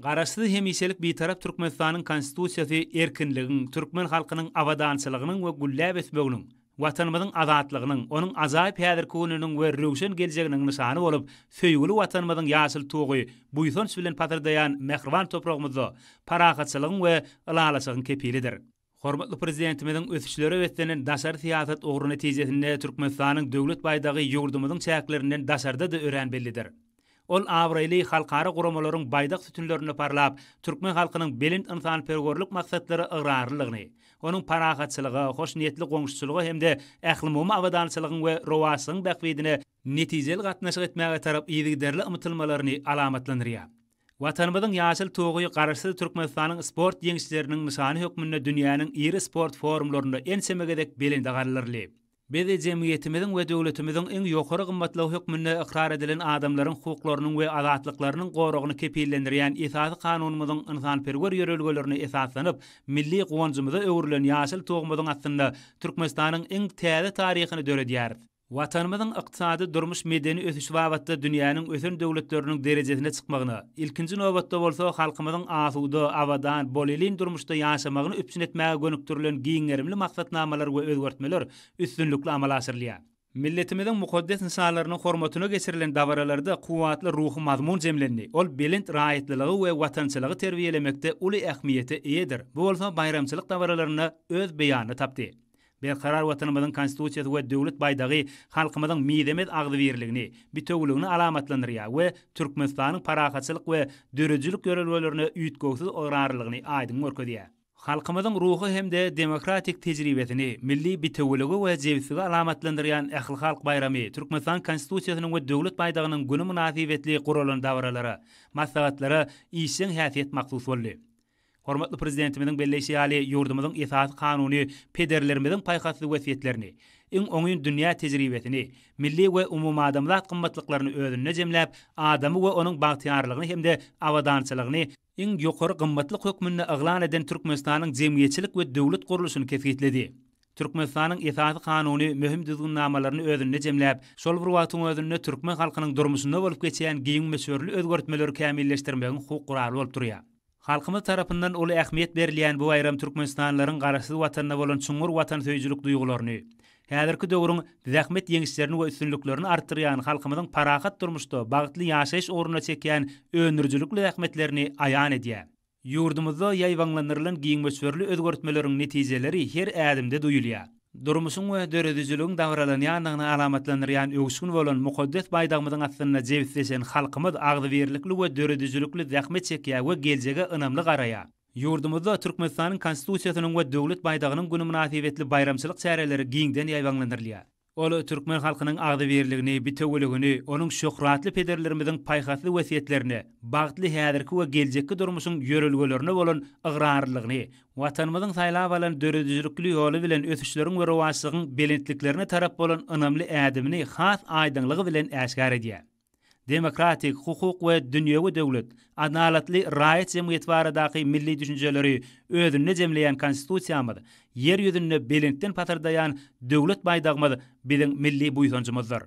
Garaşsyz, hemişelik Bitarap Türkmenistanyň Konstitusiýasy erkinligiň, türkmen halkynyň abadançylygynyň we gülläp ösmeginiň, Watanymyzyň azatlygynyň, onuň ajaýyp häzirki gününiň we röwşen geljeginiň nyşany bolup, söýgüli Watanymyzyň ýaşyl tugy buýsanç bilen pasyrdaýan mähriban topragymyzda parahatçylygyň we ylalaşygyň kepilidir. Hormatly Prezidentimiziň ösüşlere beslenen daşary syýasat ugry netijesinde Türkmenistanyň Döwlet baýdagy ýurdumyzyň çäklerinden daşarda-da örän bellidir. Ol abraýly halkara guramalaryň baýdak sütünlerinde parlap, türkmen halkynyň belent ynsanperwerlik maksatlara ygrarlylygyny, onuň parahatçylyga, hoşniýetli goňşuçylyga hem-de ählumumy abadançylygyň we rowaçlygyň bähbidine netijeli gatnaşyk etmäge tarap yzygiderli ymtylmalaryny alamatlandyrýar. Watanymyzyň ýaşyl tugy Garaşsyz Türkmenistanyň sport ýeňişleriniň nyşany hökmünde dünýäniň iri sport forumlarynda ençeme gezek belende galdyryldy. Biz jemgyýetimiziň we döwletimiziň iň ýokary gymmatlygy hökmünde ykrar edilen adamlaryň hukuklarynyň we azatlyklarynyň goragyny kepillendirýän Esasy Kanunymyzyň ynsanperwer ýörelgelerine esaslanyp, milli guwanjymyza öwrülen ýaşyl tugumyzyň astynda Türkmenistanyň iň täze taryhyny döredýäris. Watanymyzyň ykdysady, durmuş-medeni ösüşi babatda dünýäniň ösen döwletleriniň derejesine çykmagyna, ilkinji nobatda bolsa, halkymyzyň asuda, abadan, bolelin durmuşda ýaşamagyny üpjün etmäge gönükdirilen giň gerimli maksatnamalar we özgertmeler üstünlikli amala aşyrylýar. Milletimiziň mukaddes nyşanlarynyň hormatyna geçirilen dabaralarda kuwwatly ruhy mazmun jemlendi, ol belent raýatlylygy we watançylygy terbiýelemekde uly ähmiýete eýedir, bu bolsa baýramçylyk dabaralarynda öz beýanyny tapdy. Berkarar Watanymyzyň Konstitusiýasy we Döwlet baýdagy halkymyzyň mizemez agzybirligini, bitewüligini alamatlandyrýar we Türkmenistanyň parahatçylyk we döredijilik ýörelgelerine üýtgewsiz ygrarlylygyny aýdyň görkezýär. Halkymyzyň ruhy hem-de demokratik tejribesini, milli bitewüligi we jebisligi alamatlandyrýan ählihalk baýramy Türkmenistanyň Konstitusiýasynyň we Döwlet baýdagynyň güni mynasybetli guralan dabaralara, maslahatlara işjeň häsiýet mahsus boldy. Hormatly Prezidentimiziň belleýşi ýaly, ýurdumyzyň Esasy Kanuny pederlerimiziň paýhasly wesýetlerini, iň oňyn dünýä tejribesini, milli we umumadamzat gymmatlyklaryny özünde jemläp, adamy we onuň bagtyýarlygyny hem-de abadançylygyny iň ýokary gymmatlyk hökmünde yglan eden Türkmenistanyň jemgyýetçilik we döwlet gurluşyny kesgitledi. Türkmenistanyň Esasy Kanuny möhüm düzgünnamalaryny özünde jemläp, şol bir wagtyň özünde türkmen halkynyň durmuşynda bolup geçýän giň möçberli özgertmeleri kämilleşdirmegiň hukuk guraly bolup durýar. Halkymyz tarapyndan uly ähmiýet berilýän bu baýram türkmenistanlylaryň Garaşsyz Watanyna bolan çuňňur watansöýüjilik duýgularyny, häzirki döwrüň zähmet ýeňişlerini we üstünliklerini artdyrýan halkymyzyň parahat durmuşda bagtly ýaşaýyş ugrunda çekýän öndürijilikli zähmetlerini aýan edýär. Ýurdumyzda ýaýbaňlandyrylan giň möçberli özgertmeleriň netijeleri her ädimde duýulýar. Durmuşyň we döredijiligiň dabaralanýandygyny alamatlandyrýan öwüşgin bolan mukaddes baýdagymyzyň astynda jebisleşen halkymyz agzybirlikli we döredijilikli zähmet çekýär we geljege ynamly garaýar. Ýurdumyzda Türkmenistanyň Konstitusiýasynyň we Döwlet baýdagynyň güni mynasybetli baýramçylyk çäreleri giňden ýaýbaňlandyrylýar. Ol türkmen halkynyň agzybirligini, bitewüligini, onuň şöhratly pederlerimiziň paýhasly wesýetlerine, bagtly häzirki we geljekki durmuşyň ýörelgelerine bolan ygrarlylygyny Watanymyzyň saýlap alan döredijilikli ýoly bilen ösüşleriň we rowaçlygyň belentliklerine tarap bolan ynamly ädimini has aýdyňlygy bilen äşgär edýär. Demokratik, hukuk we dünýewi döwlet, adalatly raýat jemgyýeti baradaky milli düşünjeleri özünde jemleýän Konstitusiýamyz, Ýer ýüzünde belentden pasyrdaýan Döwlet baýdagymyz biziň milli buýsanjymyzdyr.